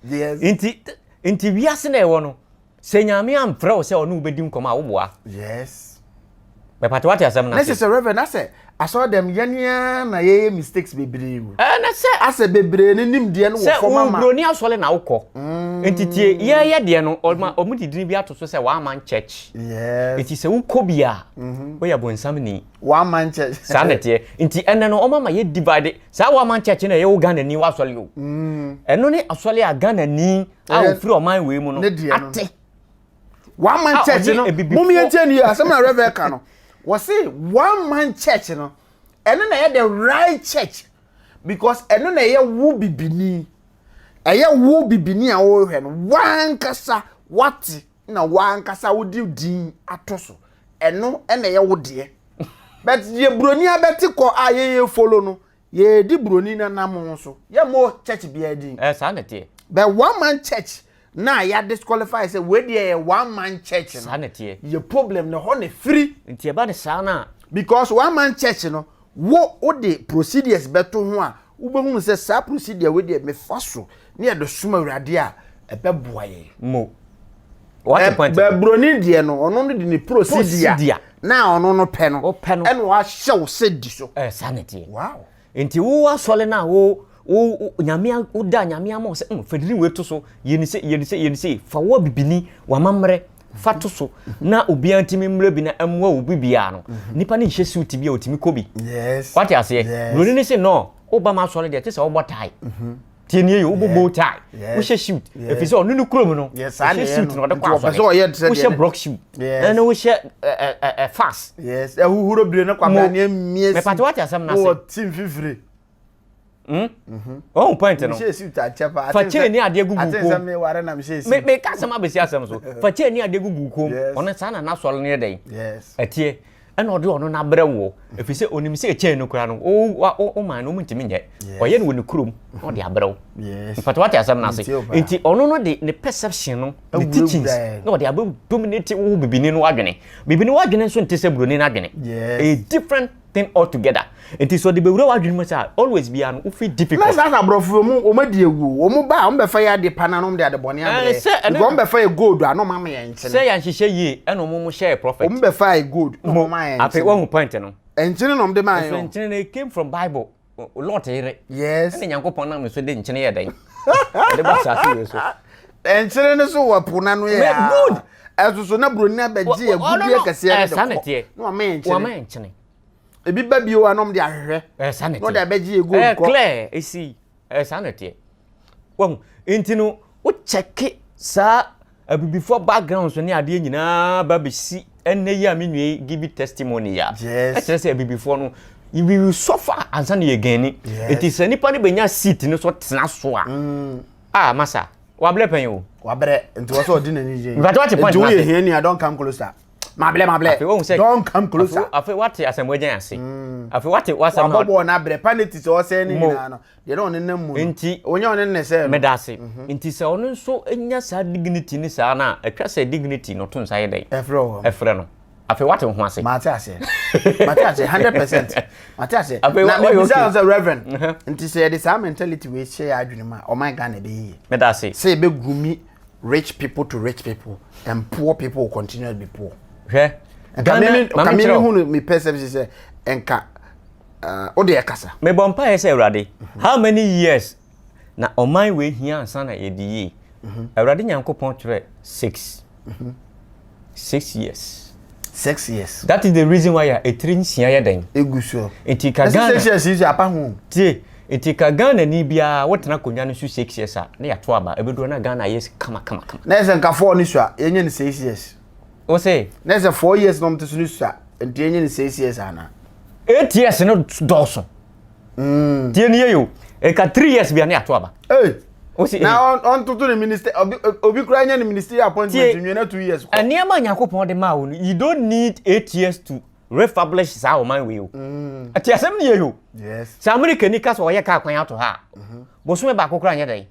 Yes. Nti nti wiase na ɛwɔ no. Sɛ Nyame amfrɛ wo sɛ ɔne wo bɛdi nkɔmɔ a wo boa. Yes. Mepatɛ wate asɛm no ase. Na sɛ Reverend asɛ asɔre dɛm yɛn na yɛyɛ mistakes bebree mu. Ɛɛ na sɛ. Asɛ bebree ne nimdeɛ no wɔ fam ama. Sɛ obroni asɔre na wokɔ. Mm. Nti tie yɛyɛ deɛ no ɔma ɔmo de din bi ato so sɛ one man church. Yes. Nti sɛ wokɔ bi a. Mhm. Woyɛ bonsam ni. W'aman church. Saa na ɛteɛ. Nti ɛnɛ no wɔn ama yɛ divide. Saa w'aman church na ɛyɛ wo Ghana ni w'asɔre o. Mm. Ɛno ne asɔre a Ghana ni a ofiri ɔman wei mu no ate. W'aman church no mo mi ɛnkyɛn ni asɛm na rɛvɛ ka no wɔsi w'aman church no ɛno na ɛyɛ the right church because ɛno na ɛyɛ wo bibini ɛyɛ wo bibini a wɔrehwɛ no wankasa wate na w'ankasa wode din ato so ɛno na ɛyɛ wo deɛ but deɛ buroni abɛte kɔ a yɛyɛ follow no yɛdi buroni no nam so yɛmmɔ church biara din eh, saa na ɛteɛ but one man church na yɛ disqualify sɛ wei deɛ yɛ one man church no saa na ɛteɛ yɛ problem na hɔ na ɛfiri nti ɛba ne saa no a because one man church no Wo wode procedures bɛto ho a, wobɛhunu sɛ saa procedure wei deɛ mefa so ne yɛde som Awurade a, ɛbɛboa yɛn. Mo. Wate eh, point no. Buroni deɛ no, ɔno no de ne procedure na ɔno no pɛ no, ɛna wahyɛ wo sɛ di so. Eh, saa na ɛteɛ. Wow. Nti wo asɔre no a wo wo nyame woda nyame ama wo sɛ mm, fadini wei to so yɛni sɛ yɛni sɛ yɛni sɛ fa wo abibini w'amammerɛ fa to so na obiara ntumi mmra bi na mmoa wo bi biara no nipa ne nhyɛ suit bi a otumi kɔ bi wate aseɛ buroni ne se no woba ma asɔre deɛ te sɛ wobɔ tae mhm. tie nie yɛ wobɔ bow tie wohyɛ suit ɛfiri sɛ ɔno no kurom no wohyɛ suit na ɔde kɔ asɔre wohyɛ brock shoe ɛne wohyɛ fas ɛhohoro bire no kwabra ne mmie si mepate wate asɛm no ase ɔhu point no fa kyɛn ne adeɛ gugu kom meka asɛm abɛsi asɛm so fa kyɛn ne adeɛ gugu kom ɔno saa na n'asɔre no yɛ dɛn ɛteɛ ɛna ɔde ɔno no abrɛ woɔ ɛfiri sɛ ɔnim sɛ ɛkyɛn no koraa no woma no ɔmntumi nyɛ ɔyɛ no wɔ ne kurom na ɔde abrɛ wo mfata wate asɛm no ase nti ɔno no de ne perception no ne teachings na ɔde abɛ dominate wo bibini no adwene bibini wo adwene nso nte sɛ buroni no adwene ɛyɛ different thing all together nti sɛ ɔde bɛwura w'adwene mu sɛ a always biara no wo feel difficult. na saa sɛ aborɔfo wɔn wɔn adi awu o wɔn ba a wɔn bɛfa yɛ ade pa na wɔn de ade bɔne Eh, abrɛ sɛ ɛno because wɔn bɛfa yɛ gold a na wɔn ama yɛn nkyene sɛ yɛanhyehyɛ yie ɛna ɔmo mo hyɛɛ prophet wɔn bɛfa yɛ gold na wɔn ama yɛn afei nkyene woahu point no ɛnkyene na wɔn de maa yɛn ɛfiri o nkyene no it came from bible lot yere yes ɛna nyankopɔn nam ne so de nkyene yɛ dɛn ɛde ba saase wei so nkyene no so wɔ po na no yɛ a good ɛso so na buroni abɛgye agudeɛ kɛseɛ no de kɔ na wama yɛ nkyene wama yɛ nkyene ebi ba bio a nom de ahwehwɛ ɛsa ne teɛ na ɔde abɛgye ɛgu nkɔ ɛklɛ ɛsi ɛsa ne teɛ Wahu? Nti no, wo kyɛke saa abibifoɔ backgrounds ne adeɛ nyinaa ba bɛsi ɛnɛ yi a me nua yi give testimony ya. Yes. Ɛkyerɛ sɛ abibifoɔ no, we will suffer ansa na yɛ gani. Yes. Nti sɛ nipa no bɛnya seat no so tena so a. Mm. Ah, masa, wabrɛ pɛn o. Wabrɛ, nti wɔ sɛ ɔdi n'ani gye. Nti wate point na ase. Nti woyɛ hia nua, don't come closer. Mabrɛ mabrɛ. Afei wɔn sɛ don't come closer. Afei wate asɛm wagyan ase. Mm. Afei wate wasɛm na. Wabɔ bɔɔl na abrɛ, paneti sɛ ɔsɛn ne nyinaa no. Deɛ na ɔnenam mu no. Nti. Ɔnya ɔne ne sɛ no. Meda ase. Mhm. Nti sɛ ɔno nso nya saa dignity ne saa no a, atwa sɛ dignity no to nsa yɛ dɛn? Ɛfrɛ wɔ hɔ. Ɛfrɛ no. Afei wate wo ho ase. Mate ase. Mate ase 100%. Mate ase. Afei Na wa- wayɛ mebisa okay. wo sɛ Reverend, Mhm. nti sɛ yɛde saa mentality wei hyɛ yɛ adwene mu a, ɔman Ghana ɛbɛyɛ yie. Meda ase. Sɛ yɛbɛgumi rich people to rich people and poor people will continue to be poor. Hwɛ. Nka Ghana- me- me- ma nka me menkyerɛ wo. mehunu me perception sɛ nka wo deɛ kasa. Mebɔ mpaeɛ sɛ Awurade, how many years na ɔman wei hia ansa na yɛadi yie? Awurade Nyankopɔn twerɛ six. Six years. Six years. That is the reason why a ɛtiri nsia yɛ dɛn? Ɛgu soɔ. Nti ka Ghana. Six years yi so apa ho. Tie, nti ka Ghana ni biara wotena akonnwa no so six years a na yɛato aba ɛbɛduro na Ghana ayɛ kama kama kama. Na yɛ sɛ nka four ne so a yɛnyɛ no six years. wo se. na sɛ four years na ɔmte so no sua nti ɛnyɛ ne six years ana. eight years no dɔɔso mm. tie nie yo ɛka three years bia ne ato aba hey. Osi, na ɔntoto ne minister obi obi kura nya ne ministry appointment nwie na two years kɔ nneɛma nyankopɔn de ma wo no you don't need eight years to refablish saa ɔman wei o mm. ɛte asɛm ne yɛ yo sɛ amerika ni ka sɛ ɔyɛ kaa kwan ato ha a mm-hmm. bosome baako kora nyɛ dɛn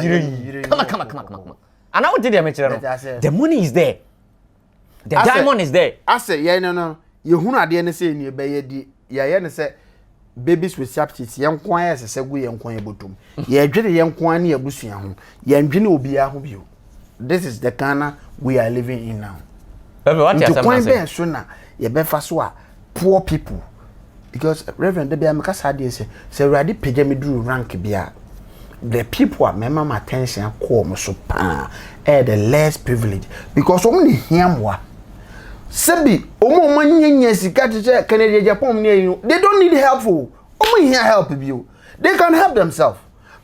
yere yi kama kama kama kama ana wogye deɛ mekyerɛ no the money is there the asɛ, diamond is there asɛ yɛn no no yɛhunu adeɛ no sɛ ɛnie bɛyɛ di yɛyɛ no sɛ babies with substitutes yɛn nko ara ɛsɛ sɛ gu yɛn nko ara bɔtom yɛdwene yɛn nko ara ne abusua ho yɛndwene obiara ho bio this is the Ghana we are living in now nti kwan bɛn so na yɛbɛfa so a poor people because reverend de bia meka saa deɛ sɛ sɛ awurade pagya me duru rank bi a the people a mɛma ma attention akɔ wɔn so paa ɛyɛ the less privilege because wɔn ne hia mmoa sɛbi wɔn a wɔn nyɛ nyɛ sika te sɛ kɛnɛdeɛ japan ne ɛyi no they don't need help o wɔn hia help bi o they can help themselves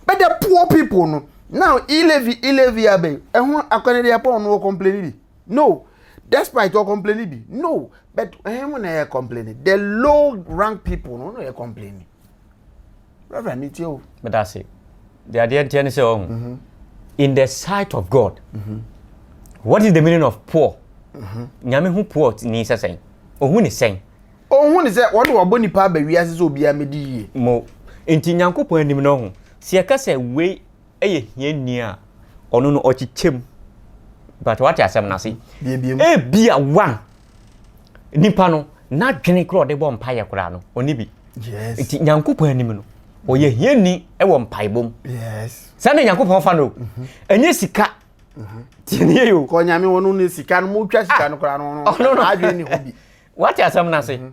but the poor people no now elevi elevi abɛn ɛho akɛnɛdeɛ japan no wɔ complain bi. no despite ɔ complain bi no but ɛhɛn mu na yɛ complain the low rank people no na yɛ complain reverend mi tie o. bɛ da se de adeɛ nteɛ ne sɛ ɔho mhm. in the sight of God mm -hmm. what is the meaning of poor mm -hmm. nyame ho poor ni sɛ sɛn ohun ne sɛn. ohun ne sɛ wɔn na wɔbɔ nipa abɛ wiase sɛ obiara mɛ di yie. mo nti nyankopɔn anim no ho si ɛka sɛ wei. yɛ hiani a, ɔno no ɔkyekyɛ mu. Mpakyɛ wate asɛm no ase? Ebia one, nipa no n'adwene koraa ɔde bɔ mpaeɛ koraa no ɔni bi. Nti Nyankopɔn anim no ɔyɛ hiani wɔ mpaebɔ mu. Saa na Nyankopɔn fa no o. Mhm. Ɛnyɛ sika. Mhm. Tiɛniɛ yi o. Kɔ Nyame wɔn no sika no mo twa sika no koraa no ɔno adwene ne ho bi. Wate asɛm no ase? Mhm.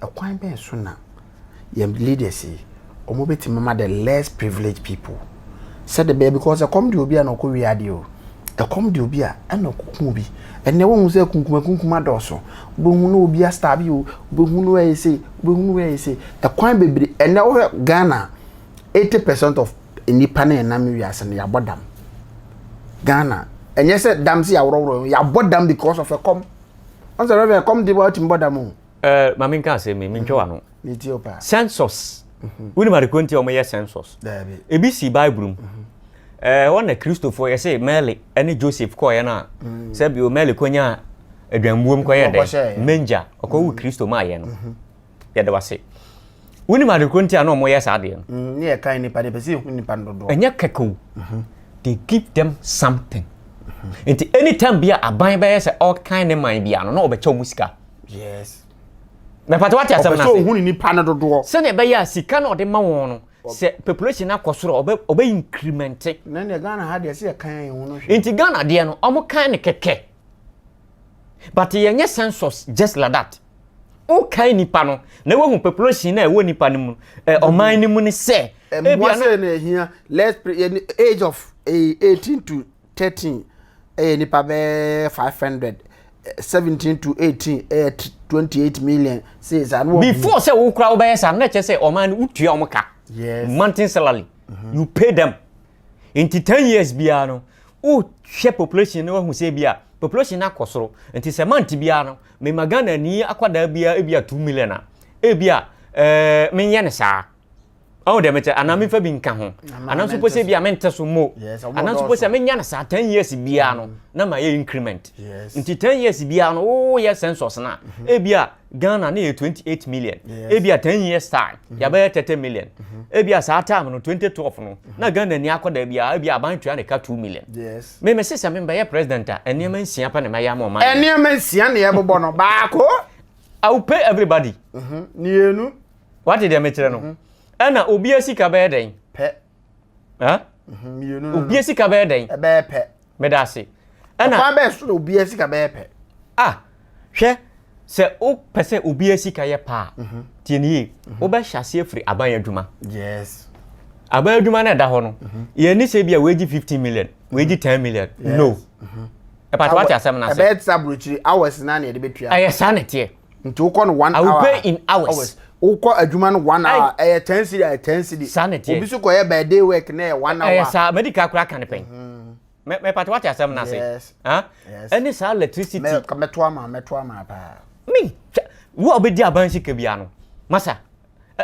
Ɛkwan bɛn so na yɛn leaders yi wɔn bɛtumi ama the less privileged people sɛde bɛyɛ because ɛkɔm de obi a na ɔkɔ wie adeɛ o ɛkɔm de obi a ɛna ɔkɔku obi ɛnna wɔn sɛ kunkuma kunkuma dɔɔso wobɛhu no obi astar bi o wobɛhu no ɛyɛ sei wobɛhu no ɛyɛ sei ɛkwan bebree ɛnna wɔhwɛ Ghana eighty percent of nnipa na ɛnam wiase no yɛabɔ dam Ghana ɛnyɛ sɛ dam si aworɔworɔ yɛabɔ dam because of ɛkɔm. ɔn sɛ rɛvɛ kɔm de wa ɔtumi bɔ dam o. ɛɛ ma mi nka asɛm mi mi ntwa wa no. mi ti o paa. census wuli ma de ko nti a wɔn yɛ census. daabi ebi si bible mu. ɛɛ wɔn na kristofo yɛ se mɛli ɛne joseph kɔɔ yɛ no a sɛ bi o mɛli ko nya aduanbuom kɔ yɛ dɛ menja ɔkɔ wu kristo ma yɛ no. yɛda wase wonim ade koro nti a na wɔn yɛ saa adeɛ no. Mm, ne yɛ kan nipa de pɛ sɛ ehu nipa no dodoɔ. ɛnyɛ kɛkɛ o mhm. they give them something mhm. nti anytime bi a aban bɛyɛ sɛ ɔkan ne man bi ano na ɔbɛkyɛ wɔn sika. yes. mɛpata wate asɛm na ase ɔpɛ sɛ ohun ne nipa no dodoɔ. sɛnea ɛbɛyɛ a sika na ɔde ma wɔn no sɛ population no akɔ soro ɔbɛ ɔbɛ increment. na ne ghana ha deɛ sɛ yɛ kan yɛn ho no hwɛ. nti ghana deɛ no wɔn kan ne kɛkɛ. But yɛnyɛ census just like that. Wokae nipa no na wohu population na ɛwɔ nipa no mu eh, ɔman no mu ne sɛ. Mmoa sɛ na ɛhia let's pray yɛ age of eh, eighteen to thirteen ɛyɛ nipa bɛɛ five hundred seventeen to eighteen ɛyɛ twenty eight million sɛ saa no. Before sɛ wokura wobɛyɛ saa na ɛkyɛ sɛ ɔman no wotua wɔn ka. Yes. Monthly salary. Mm -hmm. You pay them. Nti ten years biara no, wohwɛ population no wahu sɛ bi a population no akɔ soro. Nti sɛ month biara no, mema Ghana ni akwadaa biara ebi a two million a, ebi a ɛɛ menyɛ no saa. Ɔwɔ dɛm kyɛ anaa mefa bi nka ho. Anaa nso pɔ sɛ bi a mente so mo. Anaa nso pɔ sɛ menya no saa ten years biara no na ma yɛ increment. Nti ten years biara no woyɛ census no a, ebi a Ghana na yɛ 28 million. Yes. Ebi a 10 years time, mm -hmm. yɛbɛyɛ 30 million. Mm -hmm. Ebi a saa time no 2012 no, mm -hmm. na Ghana ni akɔ da bi a ebi aban tua ne ka 2 million. Yes. Me me sisa me bɛyɛ president a, nneɛma nsia pa na ma ya ma ɔman. Nneɛma nsia na yɛbobɔ no baako. I will pay everybody. Mhm. Nienu. Wate deɛ mekyerɛ no. Mhm. Ɛna obi asika bɛyɛ dɛn? Pɛ. ɛ mhm, obia sika bɛyɛ dɛn ɛbɛyɛ pɛ meda ase ɛna ɔkwan bɛyɛ so na obia sika bɛyɛ pɛ ah hwɛ sɛ wopɛ sɛ obia sika yɛ paa mhm. tie ne yie mhm. wobɛhyɛ ase afiri aban adwuma yes aban adwuma no ɛda hɔ no yɛni sɛ bi a wɔagye 15 million wɔagye 10 million no ɛpata wate asɛm no ase ɛbɛyɛ te sɛ aburokyiri hours na ne yɛde bɛtua ɛyɛ saa na ɛteɛ nti wokɔ no one hour i will pay in hours wokɔ adwuma no one hour ɛyɛ ten cedi ɛyɛ ten cedi saa na ɛteɛ obi so kɔyɛ by day work na ɛyɛ one hour ɛyɛ saa medical kora ka ne pɛn mɛ mɛ pati wate asɛm n'ase ɛne saa electricity mɛ mɛto ama mɛto ama paa mi wo a wobɛdi abansi ka bia no masa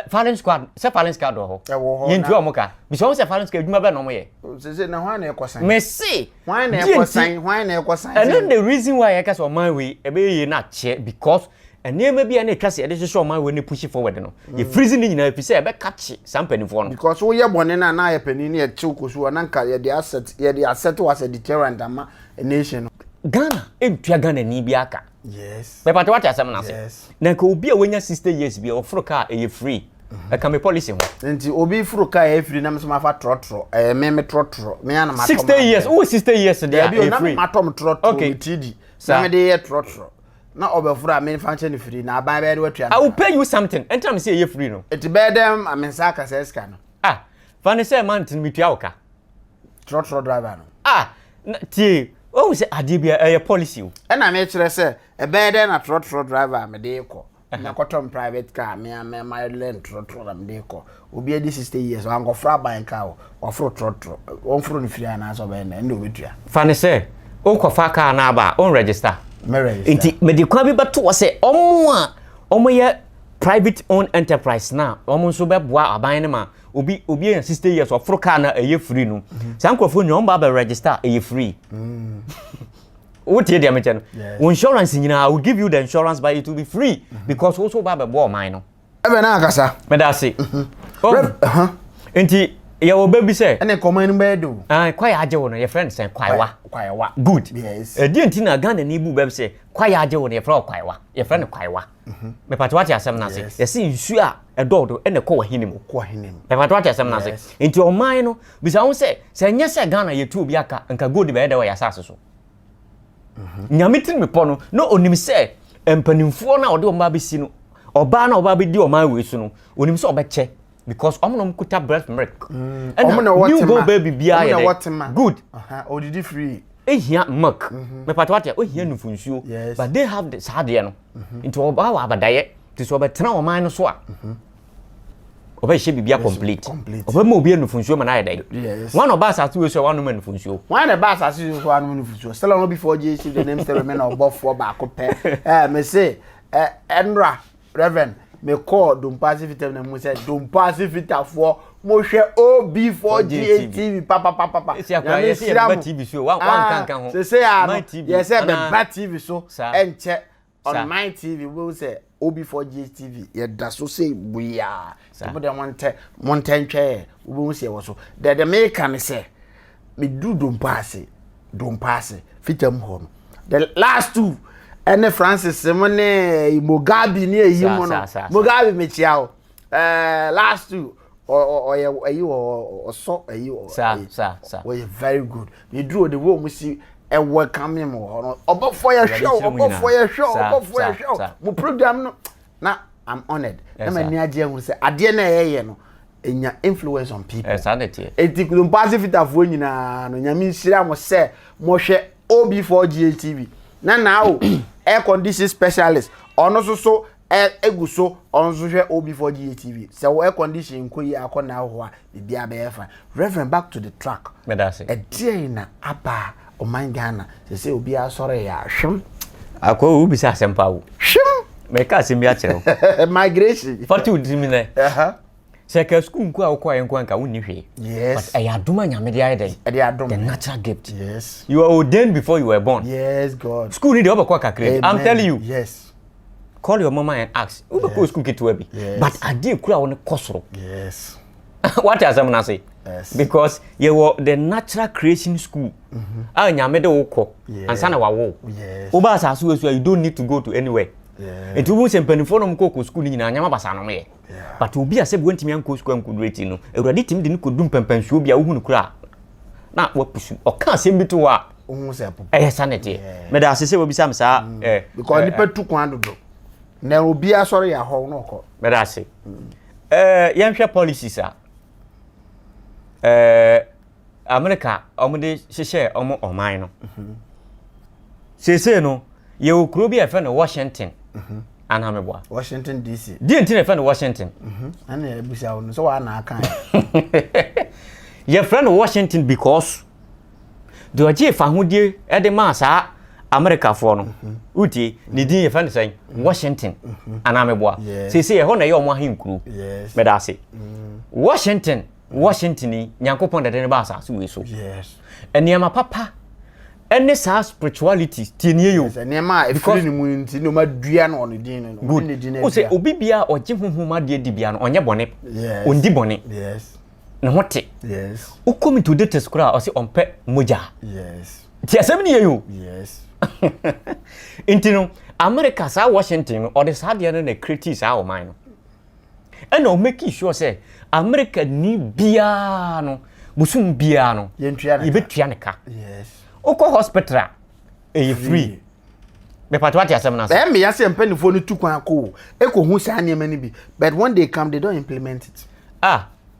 firing squad sɛ firing squad wɔ hɔ ɛwɔ hɔ yɛn tua wɔn ka bisɛ wɔn sɛ firing squad adwuma bɛ na wɔn yɛ. sese na hwan na ɛkɔ san. mɛ se hwan na ɛkɔ san hwan na ɛkɔ san. ɛno the reason why ɛka sɛ ɔman wei ɛbɛyɛ yie na akyɛ because nneɛma bi a na ɛtwa se ɛde hyehyɛ ɔman wei ne push forward no yɛ mm. freeze ne nyinaa fi sɛ ɛbɛka kye saa mpanimfoɔ no. because woyɛ bɔne na na ayɛ panin ne yɛtew kɔ so na nka yɛde asɛt yɛde asɛt wɔ asɛ deterrent ama nation no. ghana ntua ghana ni bi aka. Yes. Mɛ pàtó wàtí asɛm n'ase. Yes. Na nka obi a wanya sixty years bi a ɔforo kaa ɛyɛ free. Mhm. Ɛka mi policy ho. Nti obi foro kaa ɛyɛ free na mi nso ma fa trɔtrɔ ɛyɛ mi mi trɔtrɔ mi anam atɔ sixty years wo sixty years de a ɛyɛ free. Ɛbi o na mi ma tɔ mi trɔtrɔ mi ti di na mi de yɛ trɔtrɔ na ɔbɛforo a mi fa nkyɛn ni free na aban bɛyɛ de wɛtua. I will pay you something ɛntina mi si ɛyɛ free no. Eti bɛyɛ dɛ mi nsa akasa ɛsika no. Ah fa ne sɛ ɛma ntini mi tua ɔka. trɔtrɔ driver no. Ah, tie, wohu sɛ adeɛ bia ɛyɛ policy o. Ɛna mekyerɛ sɛ, ɛbɛyɛ dɛn na trɔtrɔ driver a mede kɔ, mɛkɔtɔ m private car, me a me ma learn trɔtrɔ na mede kɔ. Obi adi 60 years, wankɔforo aban car o, waforo trɔtrɔ. Wɔmforo no firi anaasɛ ɔbɛyɛ dɛn, ɛnna ɔbɛtua. Fa no sɛ, wonkɔfa car no aba a, wonregister? Me register. Nti, mede kwan bi bɛto hɔ sɛ, wɔn a wɔyɛ private owned enterprise no a wɔn nso bɛboa aban no ma obi obi yɛ sixty years ɔforo kaa na ɛyɛ free no saa nkurɔfoɔ nyɛ wɔn ba abɛ register ɛyɛ free mm. wo tie deɛ mekyɛ no wo insurance nyinaa will give you the insurance but it will be free mm-hmm. because wo so ba abɛ bɔ ɔman no. ɛbɛn na akasa. mɛda ase. Mm-hmm. Oh. Uh-huh. nti yɛ wɔ bɛ bi sɛ. ɛna nkɔmɔ ni bɛyɛ do. ɛn kwaye agye wo no yɛ fɛn sɛn kwayewa. kwayewa good. yes ɛdi nti na ghana ni bu bɛ bi sɛ kwaye agye wo no yɛ fɛn kwayewa yɛ fɛn kwayewa. Mhm. mepatɛ wate asɛm no ase yɛse nsuo a ɛdɔɔdo ɛna ɛkɔ w'ahene mu mepatɛ wate asɛm no ase nti ɔman no bisa ho sɛ sɛ ɛnyɛ sɛ ghana yɛtu obi aka nka gold bɛyɛ dɛ wɔ yɛ asase so mhm. nyame tiri mepɔ no na ɔnim sɛ mpanimfoɔ no a ɔde ɔma bɛsi no ɔbaa no a ɔbaa bɛdi ɔman wei so no ɔnim sɛ ɔbɛkyɛ because ɔmo na ɔmo kuta breast milk mm. ɛna new born baby biara yɛ dɛ good ɔdidi free ehia milk mhm. mepata wate ohia mhm. nufu nsuo but they have the saa adeɛ no mhm. nti ɔbaa wɔ abadayɛ te sɛ ɔbɛtena ɔman no so a ɔbɛhyɛ biribi a complete ɔbɛma obi nufu nsuo ma no ayɛ dɛ wọn ɔba asase wei so a wanom nufu nsuo wọn na ɛba asase wei so wanom nufu nsuo still ɔno before jc the name sɛ mɛmɛ na ɔbɔfoɔ baako pɛ ɛɛ mɛ se ɛnura Reverend, me kɔɔ Dompo ase fita na mu sɛ Dompo ase fitafoɔ mo hwɛ OB4GA TV papapapapa. Nyame nhyira mo. Ah, sese ya no, yɛ sɛ bɛba TV so ɛnkyɛ on my TV wobɛhu sɛ OB4GA TV yɛda so sei buyaa. Saa. Mo deɛ montɛ montɛ ntwɛɛ wobɛhu sɛ ɛwɔ so. Deɛ deɛ meka ne sɛ meduru dompa ase dompa ase fitam hɔ no the last two ɛne Francis mo ne eh, Mugabe ne ɛyi mo no Mugabe mekyia o eh, last two ɔyɛ ɛyi ɔsɔ ɛyi ɔyɛ very good meduru o de wo mo si ɛwɔ kame mo hɔ no ɔbɔfoɔ yɛhwɛ o ɔbɔfoɔ yɛhwɛ o ɔbɔfoɔ yɛhwɛ o mo program no na i'm honored na m'ani agye ahunu sɛ adeɛ na ɛyɛyɛ no ɛnya influence on people ɛti kurompaase fitafoɔ nyinaa no nyame nhyira mo sɛ mohwɛ ob4 tv na naa o air condition specialist ɔno so so ɛgu so ɔno so hwɛ ob4 tv sɛ wo air condition nkɔ yi akɔ naa hɔ a biribiara bɛyɛ fine reverend back to the track ɛdeɛn na aba ɔman ghana sɛ sɛ obiara sɔre yɛ ahwem akɔ wo bisa asɛm pa wo hwem mɛka asɛm bi akyerɛ wo migration fati wo dimi nɛ sɛ ka sukuu nko a wokɔ ayɛ nko anka wonni hwee yes ɛyɛ adom a nyame de ayɛ dɛn ɛde adom the natural gift yes you are ordained before you were born yes god sukuu ni deɛ wobɛkɔ kakra i'm telling you yes call your mama and ask wobɛkɔ sukuu ketewa bi but adeɛ kura wo no kɔ soro wate asɛm no ase because yɛwɔ the natural creation school mm-hmm. a ah, nyame de wo kɔ ansa na wawo woba asase wɔ so a you don't need to go to anywhere nti wohu sɛ mpanimfoɔ nom kɔkɔ sukuu no nyinaa nyama basa nom yɛ But obi a sɛbi wantumi ankɔ sukuu ankɔduru akyiri no, Awurade tumi de no kɔdu mpɛmpɛnsoɔ bi a wohu no kora a, na wapusu. Ɔka asɛm bi to hɔ a, ɛyɛ sa na ɛteɛ. Meda ase sɛ wabisa me saa. Mm. Eh, Because eh, nipa eh. tu kwan dodo. Na obi asɔre yɛ ahɔw na ɔkɔ. Meda ase. Mm. Eh, yɛnhwɛ policies a. Eh, Amerika wɔn de hyehyɛɛ wɔn ɔman no. Seesei no, yɛwɔ kuro bi a yɛfrɛ no Washington. Mhm. Anaa meboa. Washington DC. Deɛ nti na yɛfrɛ no Washington. Mhm. Ɛna yɛbisa wo no sɛ wɔana aka Yɛfrɛ no Washington because deɛ ɔgye fahodie de maa saa Amerikafoɔ no mhm. wotie ne din yɛfrɛ no sɛn Washington anaa meboa. Seesei ɛhɔ na ɛyɛ wɔn ahenkuro. Meda ase. Washington Washington yi, Nyankopɔn dade no ba asase wei so. Yes. Nneɛma papa ɛne saa spirituality tie nie yo. Sɛ nneɛma a efiri ne mu nti na ɔma dua no ɔne din no. Good. Ne din no adua. Ɔsɛ obi bia ɔgye honhom adeɛ di bia no ɔnyɛ bɔne. Yes. Ɔndi bɔne. Yes. Ne ho te. Yes. Wokɔ mu to de tes koraa ɔsɛ ɔmpɛ mogya. Yes. Ti asɛm nie yo. Yes. Nti no America saa Washington no ɔde saa adeɛ no na kreti saa ɔman no. Ɛna ɔ mekii sure sɛ America ni biaa no bosom biaa no yɛbɛtua ne ka. Wokɔ hospital a ɛyɛ free. Mepatwa wate asɛm no ase. Ɛyɛ meya sɛ mpanifoɔ no tu kwan kɔ o ɛkɔ hu saa nneɛma no bi but when they come they don't implement it. Ah.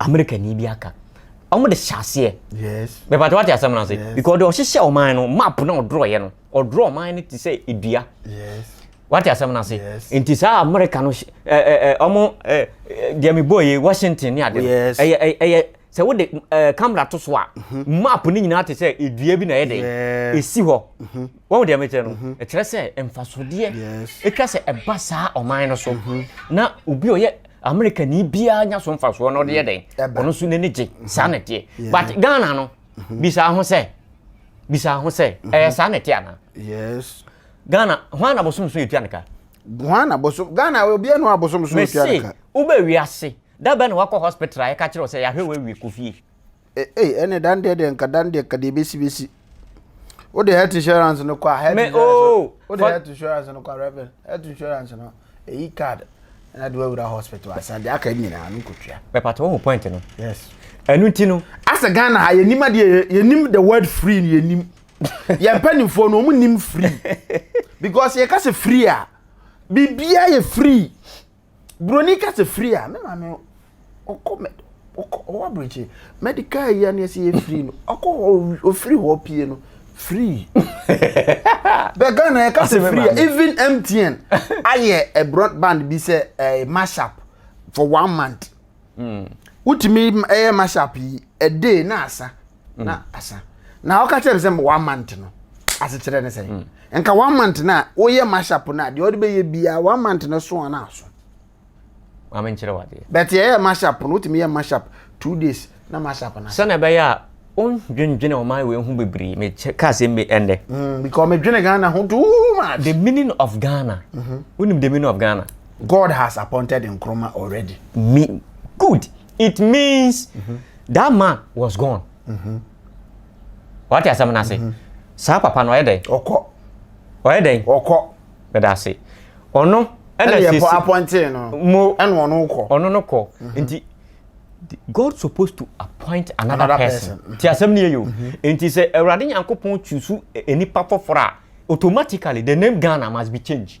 Amerikani bi aka. Wɔn de hyɛ aseɛ. Yes. Mepatɛ wate asɛm no ase. Yes. Because ɔde ɔhyehyɛ ɔman no map na ɔdorɔyɛ no ɔdorɔ ɔman no te sɛ edua. Yes. Wate asɛm no ase. Yes. Nti saa Amerika no ɛɛ ɛɛ wɔn ɛɛ deɛ mi bɔ yɛ Washington ne ade. Yes. Ɛyɛ ɛyɛ sɛ wode ɛɛ eh, camera to so a mhm. map no nyinaa te sɛ edua bi na ɛyɛ dɛ esi hɔ mhm. wɔn deɛ mekyerɛ no mhm. ɛkyerɛ sɛ mfasodeɛ ɛtwa sɛ ɛba saa ɔman no so mhm. na obi ɔyɛ amerika ni biara nya so mfasoɔ na ɔde yɛ dɛn ɔno nso n'ani gye mhm. saa na ɛteɛ but ghana no bisa ho sɛ bisa ho sɛ ɛyɛ saa na ɛteɛ ana ghana ho ana bosom so yɛtua ne ka ho ana bosom ghana obiara no abosom so yɛtua ne ka wobɛ wiase dabɛ na wakɔ hospital a yɛka kyerɛ sɛ yɛahwɛ wɔ awie kɔ fie Ee, ɛne dan deɛ deɛ nka dan deɛ ka deɛ bɛsi bɛsi. Wode health insurance no kɔ a health insurance oh, wode health insurance no kɔ a reverend health insurance no ɛyi card ɛna de wawura hospital asan deɛ aka nyinaa no nkɔtua. Bɛpata wohu point no. Yes. Ɛnu ti no. Asɛ Ghana ha yɛnim adeɛ yɛnim the word free no yɛnim. Yɛn mpanimfoɔ no wɔn nim free because yɛka sɛ free a biribiara yɛ free. buroni ka sɛ firi a me maame ɔkɔ mɛ ɔkɔ ɔwɔ aburokyi medical yi ani ɛsɛ yɛ firi no ɔkɔ hɔ ofiri hɔ pie no firi bɛ ghana yɛ ka sɛ firi a even mtn ayɛ a broadband bi sɛ ɛɛ eh, mashup for one month. Mm. Wotumi ɛyɛ mashup yi a day na asa mm. na asa. Na ɔka kyerɛ me sɛ one month no asekyerɛ ne sɛ mm. nka one month na woyɛ mashup na deɛ ɔde bɛyɛ biara one month no so ana aso. Maame nkyerɛ wadeɛ. Bɛte ɛyɛ mashup no wotumi yɛ mashup two days na mashup na. Sɛnɛ ɛbɛyɛ a wondwendwene ɔman wei ho bebree mekyɛ kaa sɛ mbe ɛndɛ. Mm, because medwene Ghana ho too much. The meaning of Ghana. Mm -hmm. Wonim the meaning of Ghana. God has appointed Nkrumah already. Me, good. It means mm -hmm. that man was gone. Mm -hmm. What is happening? Mm -hmm. Saa papa no ɔyɛ dɛn? Ɔkɔ. Ɔyɛ dɛn? Ɔkɔ. Bɛda ase. Ɔno ɛna sisi. Ɛna yɛ appointed no. Mo. Ɛna ɔno kɔ. Ɔno no kɔ. Mm-hmm. Nti God supposed to appoint another, another person. person. Ti asɛm ni yɛ yo. Mm-hmm. Nti sɛ Awurade Nyankopɔn tusu e, e, nipa foforɔ a automatically the name Ghana must be changed.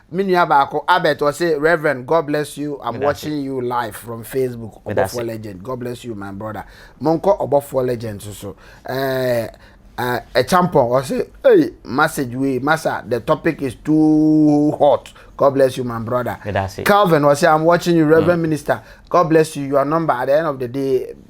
Me nua baako Albert ɔse Rev God bless you I'm Medase. watching you live from Facebook Medase. Ɔbɔfoɔ legend God bless you my brother Monkɔ Ɔbɔfoɔ legend so so ɛɛ ɛɛ Ɛkyampɔn ɔse ei message wei masa the topic is too hot God bless you my brother Medase. Calvin ɔse I'm watching you Rev Minister God bless you your number at the end of the day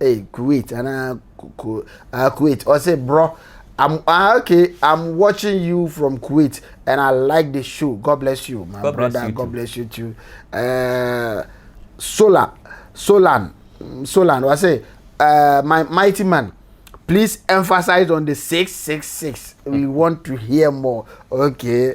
Hey Kuwait ana ah Kuwait ɔsɛ bro I'm ah, okay I'm watching you from Kuwait and I like the show God bless you my God brother you God too. bless you too uh, Sola Solan Solan ɔsɛ uh, my mighty man please emphasize on the 666 we want to hear more okay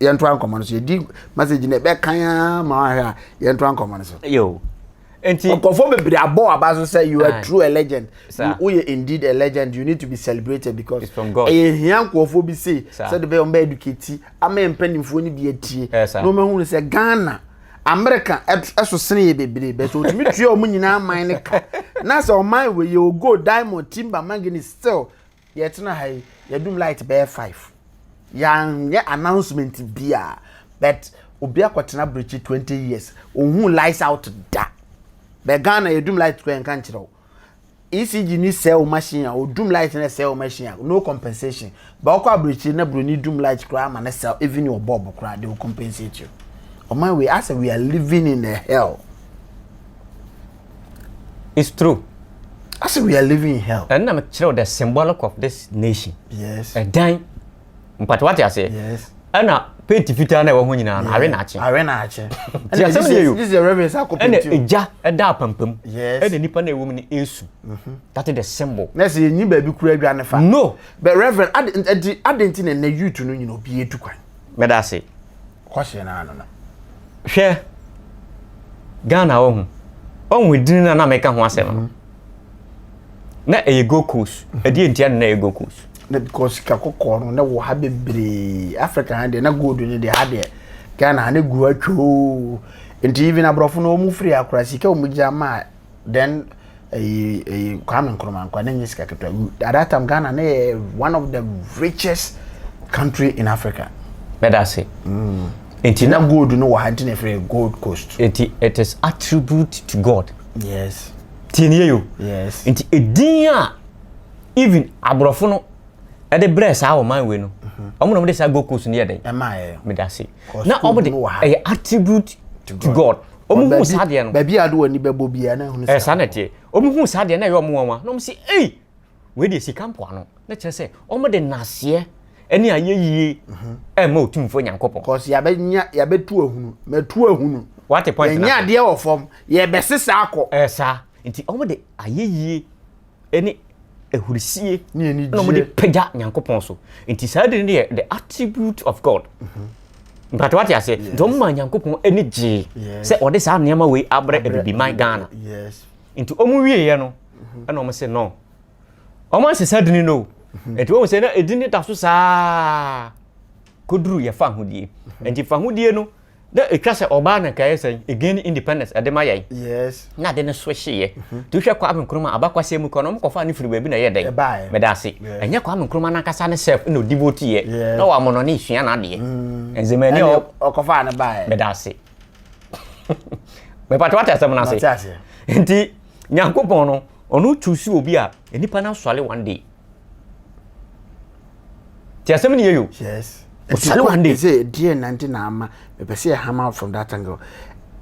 yɛntoa nkɔmmɔ no so yɛdi message no ɛbɛkan ara ma wahwɛ a yɛntoa nkɔmmɔ no so yo nti nkɔfoɔ bebree abɔ aba so sɛ you are ah. true a legend woyɛ indeed a legend you need to be celebrated because ɛyɛ hia nkɔfoɔ bi sei sɛ de bɛyɛ ɔmbɛ educate ama yɛ mpanimfoɔ no bi atie na ɔmahunu sɛ ghana amerika ɛso sene yɛ bebree bɛ so ɔtumi tua ɔmo nyinaa man no ka na sɛ ɔman wɔ yɛ ogo diamond timber manganese still Yɛtena ha yi, yɛdum light bɛyɛ five. Yɛanyɛ announcement bia, but obi akɔtena brekyi twenty years, ohun lights out da. Bɛ Ghana yɛdum light kɔ yɛnka nkyerɛ wo. ECG ni sell machine a odum light na sell machine a no compensation. Bɛ ɔkɔ abrekyi na broni dum light koraa ma ne sell even your bulb koraa they will compensate you. Ɔman wei asɛ we are living in a hell. It's true. I say we are living in hell. Ɛnna mi kyerɛw the symbolic of this nation. Yes. Ɛdan. Mpata wate aseɛ. Yes. Ɛnna penti fitaa na ɛwɔ ho nyinaa no awe na akye. Awe na akye. Ti asɛm ni eyo. This is the reverend sako penti. Ɛnna egya ɛda apampam. Yes. Ɛnna nipa na ewu mu ni esu. Mhm. That is the symbol. Na ɛsɛ yɛn nyi baabi kura adwa ne fa. No. But reverend adi adi adi nti na ɛnna youth no nyina obi edu kwan. Mɛda ase. Kwashe no ano no. Hwɛ Ghana wohu. Woahu edin no a na meka ho asɛm no? Na ɛyɛ Gold Coast. Ɛdeɛ ntia no na ɛyɛ Gold Coast? Na because sika kɔkɔɔ no na wɔ ha bebree. Africa ha deɛ na gold no deɛ ha deɛ Ghana ha na gu atwoo. Nti even aborɔfo no wɔn firi ha koraa sika wɔn gya ma then ɛyi ɛyi kwame nkrumah nkwa ne nye sika ketewa at that time ghana ne yɛ one of the richest country in africa. bɛda ase. Mm. nti na gold no wɔ ha nti na efiri gold coast. nti it is attribute to god. yes. tie ne yɛ yo. yes. nti edin a even aborɔfo no ɛde brɛ saa ɔman wei no ɔmo na ɔmo de saa gold coast no yɛ dɛ. ɛma yɛ. meda ase. na ɔmo de ɛyɛ attribute to god ɔmo hu saa deɛ no baabi a de wɔn ani bɛbɔ biara na ɛho no eh, saa na ɛteɛ ɔmo hu saa deɛ na ɛyɛ ɔmo nwanwa na ɔmo si ei wei deɛ sika mpoa no na kyerɛ sɛ ɔmo de naseɛ ɛne ayɛ yie mhm. ɛma otumfoɔ nyankopɔn kɔsi yabɛnya yabɛtu ahunu mɛtu ahunu wate point na yɛnyɛ adeɛ wɔ fam yɛbɛsesa akɔ ɛɛ eh, saa nti ɔmo de ayɛ yie ne ahurisie na wɔde pagya nyankopɔn so nti saa de no yɛ the attribute of god mpatɛ wate aseɛ nti wɔn ma nyankopɔn ani gyee sɛ wɔde saa nneɛma wei abrɛ abibiman ghana nti wɔn wieɛ no ɛna wɔn sɛ no wɔn ansɛ saa dini no nti wɔn sɛ na edini da so saa koduru yɛfa ahodie nti fa ahodie no Dɛ etwa sɛ ɔbaa na nka yɛ sɛ again ne independence ɛde ma yɛn Yes. na ade no so hye yɛ mhm. nti wohwɛ Kwame Nkrumah abakwasɛm mu kora no ɔmo kɔfaa no firi baabi na ɛyɛ dɛn Ɛbaeɛ. meda ase Yes. ɛnyɛ Kwame Nkrumah nankasa ne self na odi vote yɛ Yes. na wɔamo no ne esua n'adeɛ mm. nzema ani Ɛne ɔ ɔkɔfaa no baeɛ. meda ase mepatɛ wate asɛm no ase Mate aseɛ. nti Nyankopɔn no ɔno choose obi a nipa no asɔre one day ti asɛm ni yɛ yo. yes ɔsɛlɛ wɔn de. ɛsɛ ɛdeɛ nanti na ama ɛpɛ sɛ ɛhama from that angle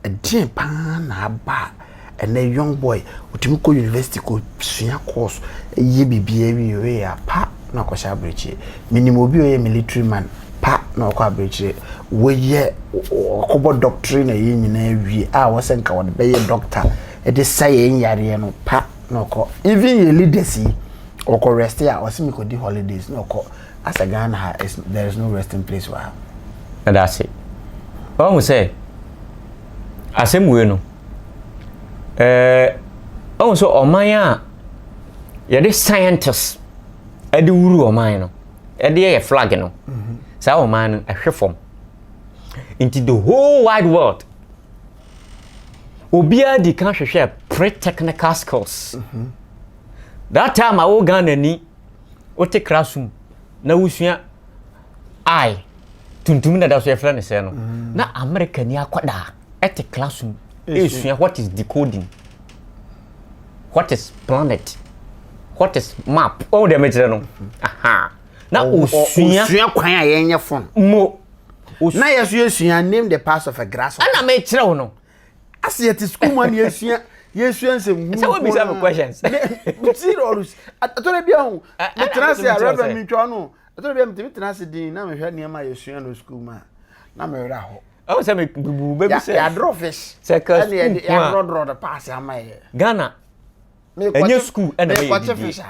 ɛdeɛ paa na aba ɛnɛ young boy ɔtumi kɔ university kɔ sua course ɛyɛ biribi ɛwi ɔyɛ a pa na ɔkɔhyɛ abirekyire menim obi ɔyɛ military man pa na ɔkɔ abirekyire wɔyɛ ɔkɔbɔ doctrine na ɛyɛ nyinaa wie a wɔsɛ nka wɔde bɛyɛ doctor ɛde sa yɛn yareɛ no pa na ɔkɔ even yɛ leaders yi ɔkɔ rest a ɔsi mi kɔ di holidays na ɔkɔ asɛ Ghana ha there is no resting place wɔ ha. Ɛda ase ɔhu sɛ asɛm wei no ɛɛ ɔhu sɛ ɔman a yɛde scientists ɛde wuru ɔman no ɛde yɛ flag no mhm. saa ɔman no ɛhwɛ fam nti the whole wide world obiara di kan hwehwɛ pre-technical skills that time a wo Ghana ni wote classroom na wosua I tuntum na da so yɛfrɛ no sɛ no na America ni akwadaa ɛte classroom ɛsua what is decoding what is planet what is map ɔn deɛ mekyerɛ no aha na osua kwan a yɛnyɛ phone mo na yɛ so yɛsua name the parts of a grasshopper ɛna mekyerɛ wo no ase yɛte sukuu mu a na yɛsua yɛsua nsɛm hunu sɛ wobisa me questions serious atɔre bi ahu metena ase a reverend mentwa no atɔre bi a metumi tena ase din na mehwɛ nneɛma a yɛsua no sukuu mu a na mewerɛ ahɔ ɛwɔ sɛ mebubu bɛbi sɛ yɛadorɔ fish ɛne yɛdorɔdorɔ de paase ama yɛ ghana ɛnyɛ school ɛna mɛyɛ adidie